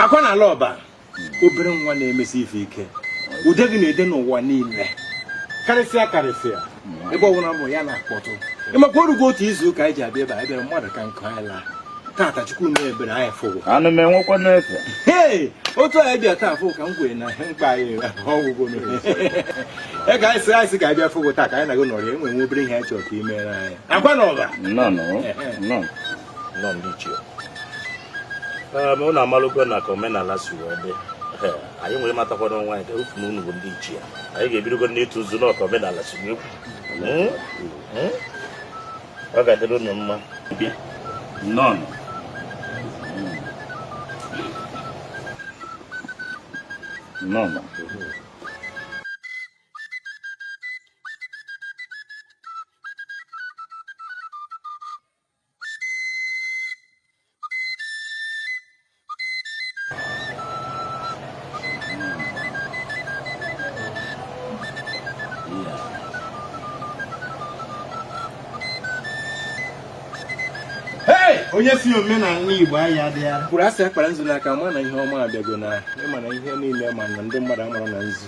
akwa na ala ọba obere nwa na-emesi ife ike ude gị na-ede n'ụwa niile karịsịa karịsịa ebe ọbụla mụ ya na-akpọtụ ị makwa o rugo otu izu ụka anyị ji abịa ebe a bịara mmadụ ka nkụ anyị laa tata chukwu mere ebere anyị fụ gị anụ m enwekwa n'efe hei otu anyị bịa taa fụ ka m kwere na mkpa anyị agwụgo e ka anyị sị anyị sị ka anyị bịa fụ gị taa ka anyị na gị nọrọ e nwe nwe obere ihe anyị chọrọ ka i meere anyị akwa na ọba nnọọ nnọọ nnọọ nnọọ ndị ichie um, unu amalụgo na ka omenala si wee dị anyị wee matakwa n'onwe anyị ka a fụ na unu bụ ndị ichie anyị ga-ebidogo n'ịtụ nzu na ka omenala si wee kwu hmm? Hmm? ọ ga-adịrị unu mma nnọọnụ nnọọnụ onye sị omenala igbo anyị adịghị kwuru asị a kpara nzu n'aka ma na ihe ọma abịago na ịma na ihe niile ma na ndị mmadụ amara na nzu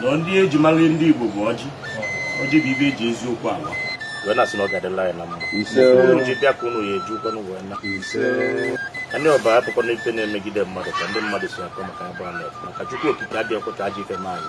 na ndị e ji mara ndị Igbo bụ ọjị ọjị bụ ife e ji eziokwu ala wee na-asị na ọ ga-adịlị anyị na mma ji bịa ka ụnụ ya eji ụkwanụ wee na alị ọba abụkwa na ife na-emegide mmadụ ka ndị mmadụ si akọ maka ya bụ maka Chukwu okike adịghị ọkụta ajọ ife n'anyị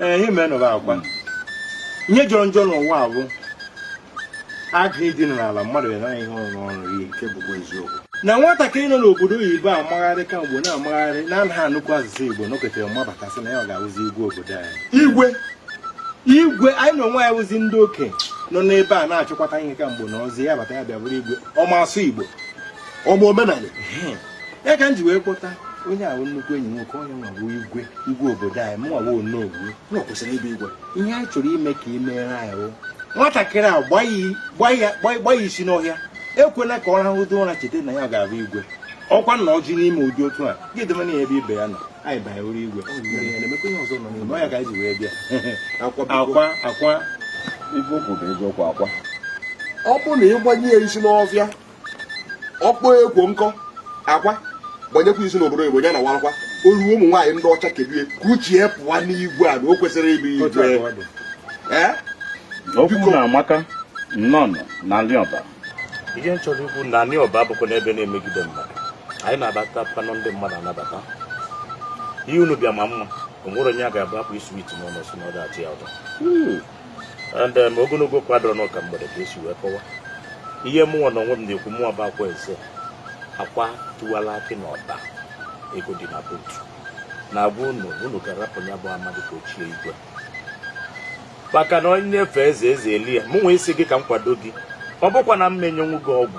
ee ihe mere nọrọ akwa ihe jọrọ njọ n'ụwa a bụ agụ ịdị n'ala mmadụ ya naghị ihe ọrụ ọrụ ihe nke bụkwa eziokwu na nwatakịrị nọ n'obodo oyibo amagharị kemgbe na-amagharị na anaghị anụkwu asụsụ igbo nọkatara mabata sị na ya ọ ga-awụzi igwe obodo anyị igwe igwe anyị na onwe anyị wụzi ndị okenye nọ n'ebe a na-achịkwata ihe kemgbe na ọzi ya bata ya bịa bụrụ igwe ọ ma asụ igbo ọ ma omenala ya ka m ji wee kpọta onye ahụ nnukwu enyi nwoke onye nwa bụ igwe igwe obodo anyị mụnwa bụ onowu na ọ kwesịrị ịbụ igwe ihe anyị chọrọ ime ka i meere anyị bụ nwatakịrị a gbanye ya isi n'ọhịa ekwela ka ọ rahụdo ụra cheta na ya ga-abụ igwe ọkwa na ọ gị na-eme ụdị otu a gị debe na ebe ibe ya nọ anyị banyere ụra igwe ọ ya ka anyị ji wee bịa akwa akwa ife o kwu bụ eziokwu akwa ọ bụ na ịgbanye ya isi n'ọfịa ọkpọ ekwo nkọ akwa gbanyekwa isi n'obodo igbo ya na warakwa olu ụmụ nwaanyị ndị ọcha kedu ka uche pụwa n'igwe a na o kwesịrị ịbụ igwe okwu unu amaka nnọọ na alị ọba ihe m chọrọ ikwu na alị ọba abụkwa na ife na-emegide mmadụ anyị na-anabatakwanụ ndị mmadụ anabata ihe unu bịa ma mma o nwere onye a ga-abụ akpụ isi wit n'ụlọ si na ọ ga-achị ya ụtọ and um, ogologo okwu adịrọ n'ụka mgbede ka esi wee kọwa ihe mụnwa na onwe m na-ekwu mụnwa bụ akwa eze akwa tiwala akị na ọba ego dị na buutu na-agwa unu unu ga-arapụ ya bụ amadị ka o chie igwe maka na onye na-efe eze eze elu ya mụnwa ịsị gị ka m kwado gị ọ bụkwa na m menyenwu gị ọgwụ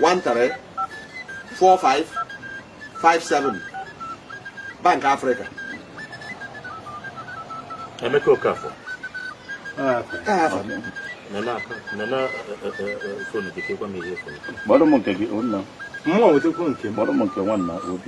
13 45 57 Bank Africa Emeka Okafor Mmadụ m nke gị, o nna m. Mmụọ nwetakwu nke m. Mmadụ m nke nwanna obi.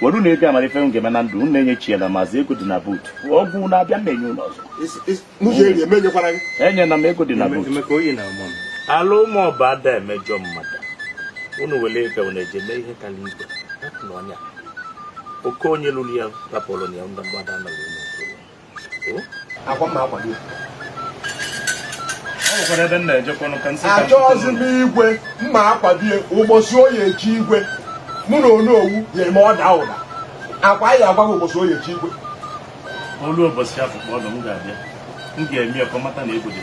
were unu ego amara ife m ga-eme na ndụ unu enye chi ya na maazị ego dị na buutu ọgwụ na-abịa m na-enye unu ọzọ enyela m ego dị na buutu ala ụmụ ọba ada emejọ mmadụ unu were ego unu eje mee ihe ka n'igwe na ọnya oke onye luru ya rapụrụ ya ndị mgbada anọghị akwa mma akwa gị achọghịzi m igwe mma akwadie ụbọchị ọ ya-echi igwe mụ na onowu ya eme ọda ụda akwa anyị agwa gị ụbọchị ọ ya-echi igwe o lu ụbọchị afụ kpọọ m ga-abịa m ga-eme ya ka ọ mata na ego dị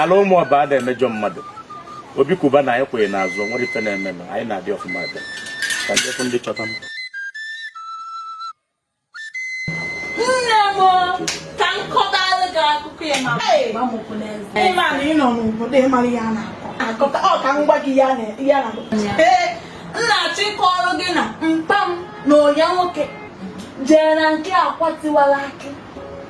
ala ụmụ ọba ada emejọ mmadụ Obi Cubana anyị kwụ anyị n'azụ nwere ife na-eme anyị na-adị ọfụma ebe ka ndị ndị chọta m ị ma na ị nọ n'obodo ị mara ya na-akọ ọ ka m gwa gị ya na ee m na-achọ ịkọrọ gị na mpa m na onye nwoke jee na nke akwa tiwala akị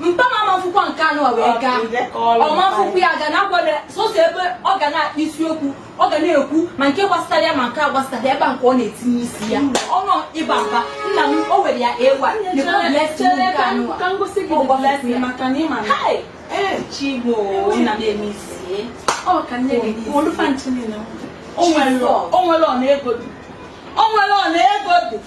mpa m amafukwọ nke anụ wee gaa ọ mafukwọ ya ga na-agwado sọsọ ebe ọ ga na-akpa isiokwu ọ ga na-ekwu ma nke gbasara ya ma nke agbasarọ ebe nke ọ na-etinye isi ya ọnụ ịba mba nna m o were ya ewa o nwerọ na ego dị